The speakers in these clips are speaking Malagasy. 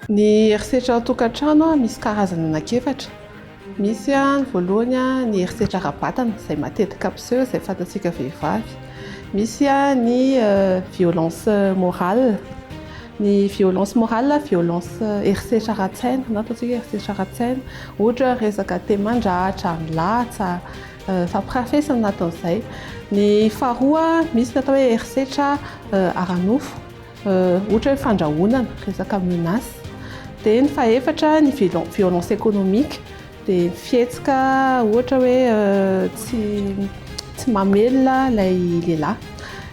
Ny herisetra an-tokantrano misy karazany anankiefatra. Misy ny voalohany ny herisetra ara-batana izay matetika mpiseho izay fantatsika vehivavy. Misy ny violence morale. Ny violence morale, violence herisetra ara-tsaina na ataontsika hoe herisetra ara-tsaina, ohatra hoe resaka te mandratra, milatsa, fampirafesana na ataon'izay. Ny faharoa, misy ny atao hoe herisetra ara-nofo, ohatra hoe fandrahonana, resaka menace. Dia ny fahefatra, ny violence économique. Dia fihetsika ohatra hoe tsy tsy mamelona ilay lehilahy.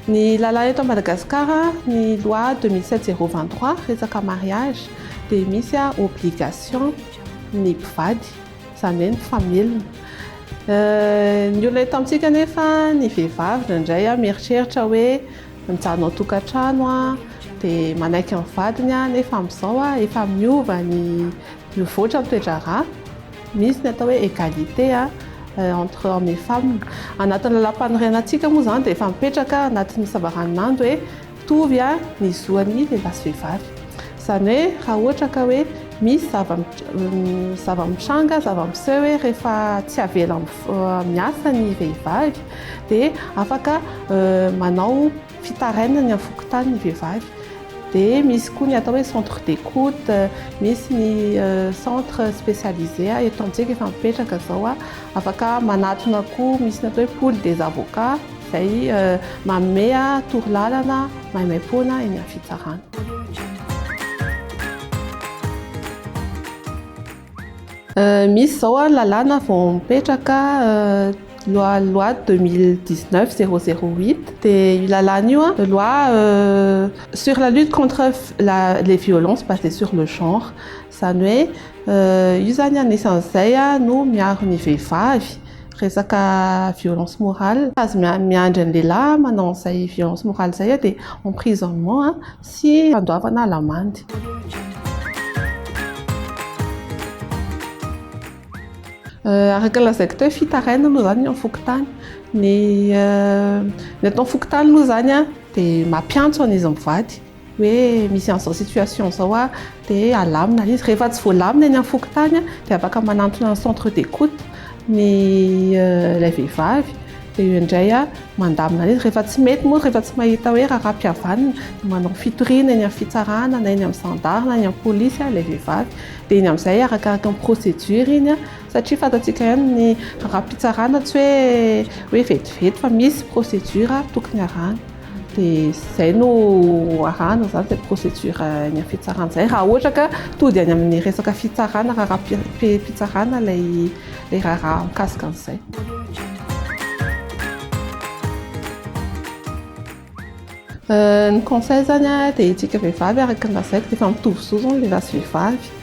Ny lalàna eto Madagasikara, ny loi deux mille sept zéro vingt trois resaka mariage dia misy obligation ny mpivady, izany hoe ny mpamelona. Ny olona eto amintsika anefa, ny vehivavy indraindray mieritreritra hoe mijanona ao tokantrano dia manaiky ny vadiny nefa amin'izao efa miova ny Mivoatra ny toe-draharaha, misy ny atao hoe égalité entre hommes et femmes. Anatin'ny Lalàmpanorenantsika moa izany dia efa mipetraka anatin'ny savaranonando hoe mitovy ny zoan'ny lehilahy sy vehivavy. Izany hoe raha ohatra ka hoe misy zava-mitranga, zava-miseho hoe rehefa tsy avela miasa ny vehivavy dia afaka manao... fitarainany amin'ny fokontany ny vehivavy dia misy koa ny atao hoe centre d'écoute misy ny centre spécialisé eto amintsika efa mipetraka izao afaka manatona koa misy ny atao hoe pool des avocats izay manome torolalana maimaimpoana eny amin'ny fitsarana Misy izao ary lalàna vao mipetraka loi loi deux mille dix neuf zéro zéro huit dia io lalàna io an loi sur la lutte contre la les violences basées sur le genre izany hoe io izany anisan'izay no miaro ny vehivavy resaka violence morale tsy azo miandry ny lehilahy manao an'izay violence morale izay dia emprisonnement Tsy handoavana lamandy. Araka ny lazaiko teo hoe fitarainana moa izany ny ao an-fokontany. Ny ny ato an-fokontany moa izany dia mampiantso an'izy mivady hoe misy an'izao situation izao aho. dia alamina ilay izy, rehefa tsy voalamina eny amin'ny fokontany dia afaka manantona ny centre d'écoute ny ilay vehivavy dia io indray mandamina an'izy, rehefa tsy mety moa, rehefa tsy mahita hoe raharaham-pihavanana dia manao fitoriana eny amin'ny fitsarana na eny amin'ny zandary na eny amin'ny polisy ilay vehivavy dia iny amin'izay arakaraka ny procédure iny satria fantatsika ihany ny raharaham-pitsarana tsy hoe hoe vetivety fa misy procédure tokony harahana. dia izay no arahana izany izay procédure any amin'ny fitsarana izay raha ohatra ka tody any amin'ny resaka fitsarana raharaham-pitsarana ilay ilay raharaha mikasika an'izay. Ny conseil izany dia isika vehivavy araka ny lazaiko dia efa mitovy zo izao ny lehilahy sy vehivavy.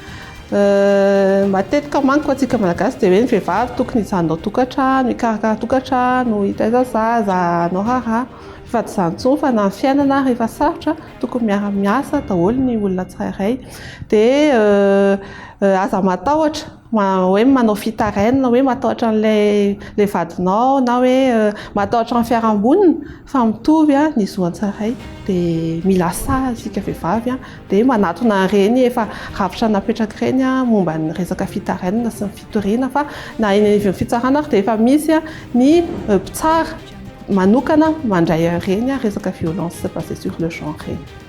Matetika manko antsika malagasy dia hoe ny vehivavy tokony hijanona ao tokantrano, hikarakara tokantrano, hitaiza zaza, hanao raharaha fa tsy izany intsony fa na ny fiainana ary efa sarotra tokony miara miasa daholo ny olona tsirairay dia aza matahotra hoe manao fitarainana hoe matahotra an'ilay vadinao na hoe matahotra ny fiarahamonina Fa mitovy ny zo an-tsaray dia mila sahy isika vehivavy dia manatona ireny efa rafitra napetraka ireny momba ny resaka fitarainana sy ny fitoriana fa na eny anivon'ny fitsarana ary dia efa misy ny mpitsara manokana mandray ireny resaka violence basée sur le genre ireny.